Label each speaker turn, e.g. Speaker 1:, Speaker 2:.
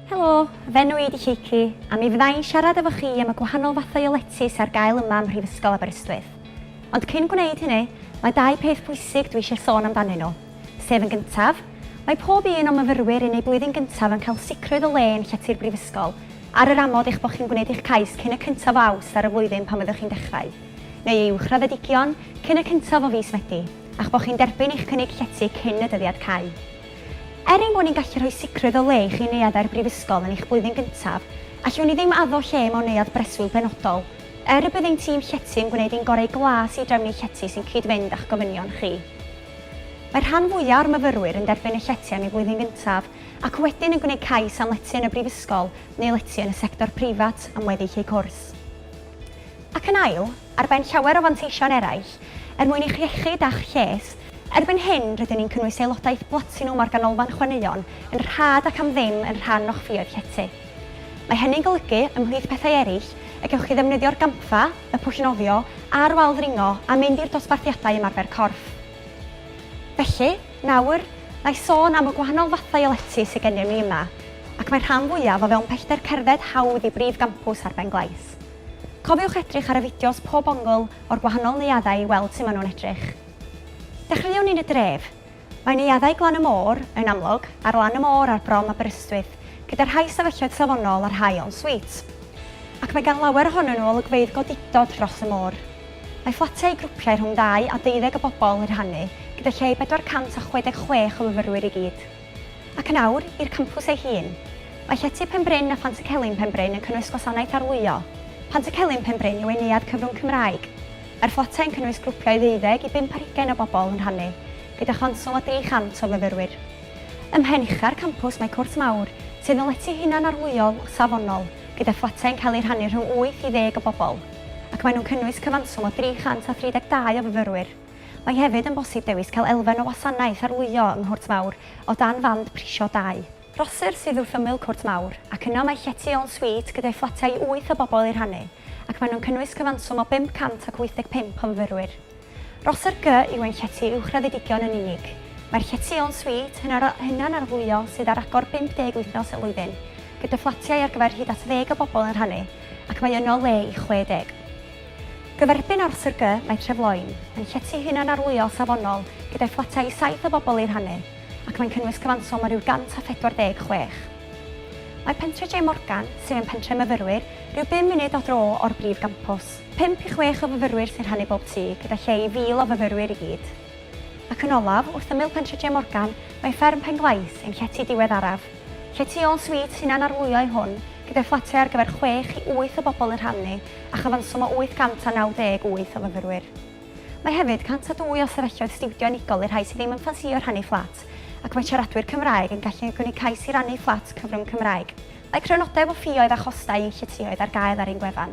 Speaker 1: Helo, fy enw i ydi Lleucu, a mi fydda i'n siarad efo chi am y gwahanol fathau o letys ar gael yma ym Mhrifysgol Aberystwyth. Ond cyn gwneud hynny, mae dau peth pwysig dwi eisiau sôn amdanyn nhw, sef yn gyntaf, mae pob un o'n myfyrwyr yn eu blwyddyn gyntaf yn cael sicrwydd o le yn llety'r Brifysgol, ar yr amod eich bod chi'n gwneud eich cais cyn y cyntaf o Awst ar y flwyddyn pan fyddwch chi'n dechrau, neu ei uwchraddedigion, cyn y cyntaf o fis Medi, a'ch bod chi'n derbyn eich cynnig llety cyn y dyddiad cau. Er ein bod ni'n gallu rhoi sicrwydd o le i chi neuadd au'r Brifysgol yn eich blwyddyn gyntaf, allwn ni ddim addo lle mewn neuadd breswyl penodol. Er y bydd ein tîm llety yn gwneud ein gorau glas i drefnu llety sy'n cyd-fynd â'ch gofynion chi, mae'r rhan fwyaf o'r myfyrwyr yn derbyn y llety am eu blwyddyn gyntaf ac wedyn yn gwneud cais am lety yn y Brifysgol neu lety yn y sector preifat am weddill eu cwrs. Ac yn ail, ar ben llawer o fanteision eraill, er mwyn eich iechyd a'ch lles. Erbyn hyn, rydyn ni'n cynnwys aelodaeth blatinwm o'r Ganolfan Chwaraeon yn rhad ac am ddim yn rhan o'ch ffioedd llety. Mae hynny'n golygu, ymhlith pethau eraill, y gewch chi ddefnyddio'r gampfa, y pwll nofio, a'r wal ddringo, a mynd i'r dosbarthiadau ymarfer corff. Felly, nawr, na i sôn am y gwahanol fathau o lety sydd gennym ni yma, ac mae'r rhan fwyaf o fewn pellter cerdded hawdd i brif gampws ar Ben Glais. Cofiwch edrych ar y fideos pob ongl o'r gwahanol neuaddau i weld sut maen nhw'n edrych. Dechreuwn ni yn y dref. Mae neuaddau Glan y Môr, yn amlwg, ar lan y môr ar brom Aberystwyth, gyda rhai stafelloedd safonol a rhai en suite. Ac mae gan lawer ohonyn nhw olygfeydd godidog dros y môr. Mae fflatiau i grwpiau rhwng ddau a deuddeg o bobl yn rhannu, gyda lle i 466 o fyfyrwyr i gyd. Ac yn awr, i'r campws ei hun. Mae Llety Penbryn a Phant-y-celyn Penbryn yn cynnwys gwasanaeth arlwyo. Pant-y-celyn Penbryn yw ein neuadd cyfrwng Cymraeg. Mae'r fflatau yn cynnwys grwpiau ddeuddeg i bump ar hugain o bobl yn rhannu, gyda chonswl a 300 o fyfyrwyr. Ym mhen ucha'r campws mae cwrt mawr, sydd yn lety hunan-arlwyo safonol, gyda fflatau yn cael eu rhannu rhwng wyth i ddeg o bobl, ac maen nhw'n cynnwys cyfanswm o 332 o fyfyrwyr. Mae hefyd yn bosib dewis cael elfen o wasanaeth arlwyo yng Nghwrt Mawr o dan fand prisio dau. Rhosir sydd wrth ymyl Cwrt Mawr, ac yno mae llety en suite gyda'i fflatiau i wyth o bobl eu rhannu, ac maen nhw'n cynnwys cyfanswm o 585 o fyfyrwyr. Rhosir G yw ein llety uwchraddedigion yn unig. Mae'r llety en suite hunanarlwyo sydd ar agor 50 wythnos y flwyddyn, gyda fflatiau ar gyfer hyd at ddeg o bobl yn rhannu, ac mae yno le i 60. Gyferbyn â'r SRG, mae Trefloyn yn llety hunanarlwyo safonol gyda'i fflatau i saith o bobl eu rhannu, ac mae'n cynnwys cyfanswm o ryw 146. Mae Pentre J Morgan, sydd yn pentre myfyrwyr, ryw bum munud o dro o'r brif gampws. Pump i chwech o fyfyrwyr sy'n rhannu bob tŷ, gyda lle i fil o fyfyrwyr i gyd. Ac yn olaf, wrth ymyl Pentre J Morgan, mae Fferm Pen-glais, ein llety diweddaraf. Lle tu ôl swît hunanarlwyo yw hwn, gyda fflatiau ar gyfer chwech i wyth o bobl yn rhannu a chyfanswm o 898 o fyfyrwyr. Mae hefyd 102 o stafelloedd stiwdio unigol i'r rhai sydd ddim yn ffansïo rhannu fflat ac mae siaradwyr Cymraeg yn gallu gynnig cais i rannu fflat cyfrwng Cymraeg. Mae crynodeb o ffioedd a chostau yn lletyOedd ar gael ar ein gwefan.